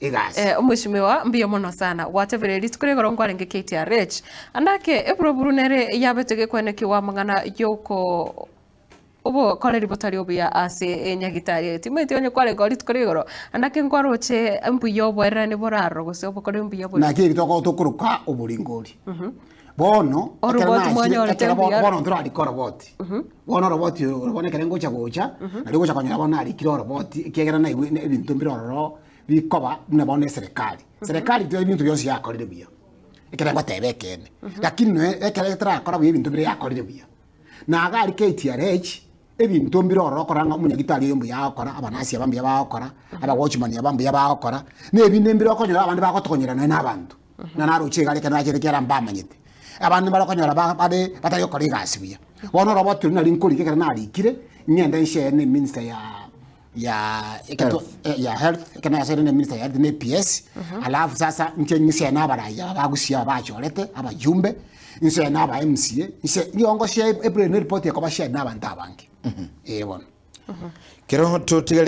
egasi. Eh, omweshimiwa, mbuya mono sana. Gwatebire rituko rigoro nkwarenge KTRH. Andake eburuburu nere yabete gekwenekigwa amang'ana yoko obokoreri botari obuya ase enyagitari eye. Timweti onye kwarenge rituko rigoro. Andake nkwaroche mbuya oboererani boraro gose obokoreri mbuya bore. Naki eki tokotokoroka oboringo oria. Bono, ekero Oroboti naachire, mwanyorete ekero bono mbuya. bono ntorarike oroboti. Bono oroboti oro oro bono ekero ngocha gocha, nario ngocha konyora bono narikire oroboti, ekiagera naigwe ne- ebinto mbire ororo bikoba buna bono eserekari. Serekari tiga ebinto bionsi yakorire buya, ekere ngoteba ekeene. Lakini noe ekero etarakora buya ebinto bire yakorire buya, na iga aria KTRH, ebinto mbire ororo okora ng'a omonyagitari oyo mbuya agokora, abanasi aba mbuya bagokora, abawochimani aba mbuya bagokora, na ebinde mbire okonyora abande bagotokonyera nonya na abanto. na naroche igare ekero nachete ekiagera mbamanyete. Abande mbare okonyora ba- bare batari gokora egasi buya. Bono orobo oturi nari nkorika ekero narikire, ng'ende nshare ne minister ya ya eketo- eh, ya health, ekero nayasaire ne minister ya health ne EPS, alafu sasa nche ng'ise na abarai aba ba Gusii aba bachorete, abajumbe, nse na aba MCA, nse nigo ngoshare ep- ep- ereport ekoba shared na abanto abange. Eh bono. Kero totigarete